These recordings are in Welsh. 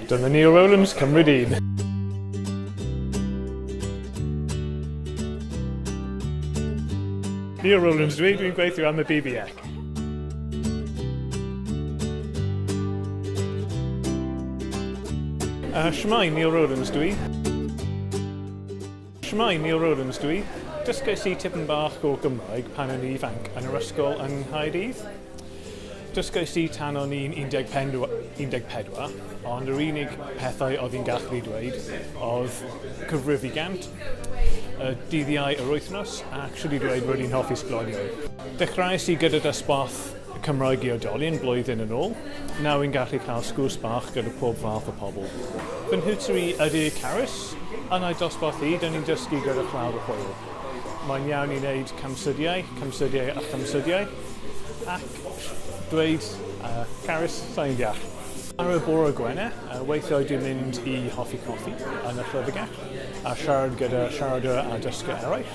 Dyma ni o Rowlands, cymryd un. Neil Rowlands dwi, dwi'n gweithio am y BBEC. Uh, Shmai, Neil Rowlands dwi. Shwmae, Neil Rowlands dw i. Dysgais i tipyn bach o Gymraeg pan o'n i ifanc yn yr ysgol yng Nghaerdydd. Dysgais i tan o'n i'n 14, ond yr unig pethau oedd i'n gallu eu dweud oedd cyfrif i gant, y dyddiau yr wythnos, a shwt i ddweud 'rwy'n hoffi sglodion'. Dechreuais i gyda dosbarth Cymraeg i oedolion blwyddyn yn ôl, nawr yn gallu cael sgwrs bach gyda pob fath o pobl. Fy nhiwtor i ydy Carys, yn ei dosbarth hi, dan ni'n dysgu gyda chlawr o hwyl. Mae'n iawn i wneud camsyddiau, camsyddiau a chamsyddiau, ac dweud, uh, Carys, sa i'n deall. Ar y bore Gwener, weithiau dwi'n mynd i hoffi coffi yn y llyfrgell, a siarad gyda siaradwyr a dysgwyr eraill.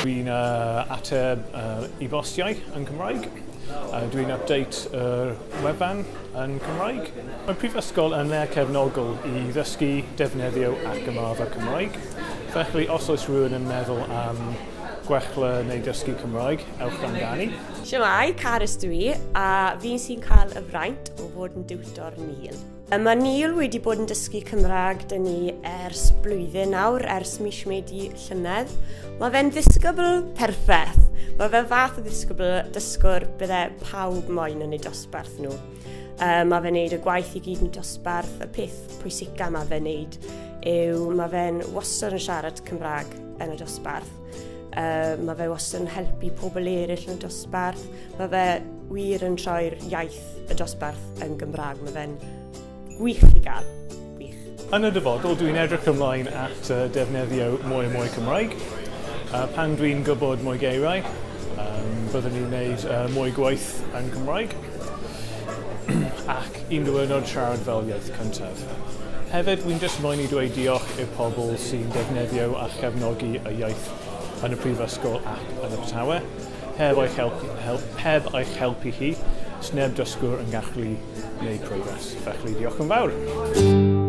Dwi'n ateb e-bostiau yn Cymraeg. Dwi'n update yr wefan yn Cymraeg. Mae'r Prifysgol yn le cefnogol i ddysgu, defnyddio ac ymarfer Cymraeg. Felly os oes rhywun yn meddwl am gwella neu ddysgu Cymraeg, ewch amdani. Shwmae, Carys dw i, a fi sy'n cael y fraint o fod yn diwtor Neil. Yy, Mae Neil wedi bod yn dysgu Cymraeg dyn ni ers blwyddyn nawr, ers mis Medi llynedd. Mae fe'n ddisgybl perffaith. Mae fe fath o ddisgybl dysgwr bydde pawb moyn yn eu dosbarth nhw. Uh, mae fe'n neud y gwaith i gyd yn dosbarth, y peth pwysica mae fe'n neud yw mae fe'n wastad yn siarad Cymraeg yn y dosbarth. Uh, mae fe wastad yn helpu pobl eraill yn dosbarth. Mae fe wir yn troi'r iaith y dosbarth yn Gymraeg. Mae fe'n gwych i gael. Gwych. Yn y dyfodol, dwi'n edrych ymlaen at uh, defnyddio mwy a mwy Cymraeg. Uh, pan dwi'n gwybod mwy geiriau, um, byddwn ni'n gwneud uh, mwy gwaith yn Cymraeg. ac un diwyrnod siarad fel iaith cyntaf. Hefyd, wi'n jyst moyn i dweud diolch i'r pobl sy'n defnyddio a chefnogi y iaith yn y Prifysgol ac yn Abertawe. Heb eich help hel- heb eich helpu chi, sneb dysgwr yn gallu gwneud progress. Felly, diolch yn fawr.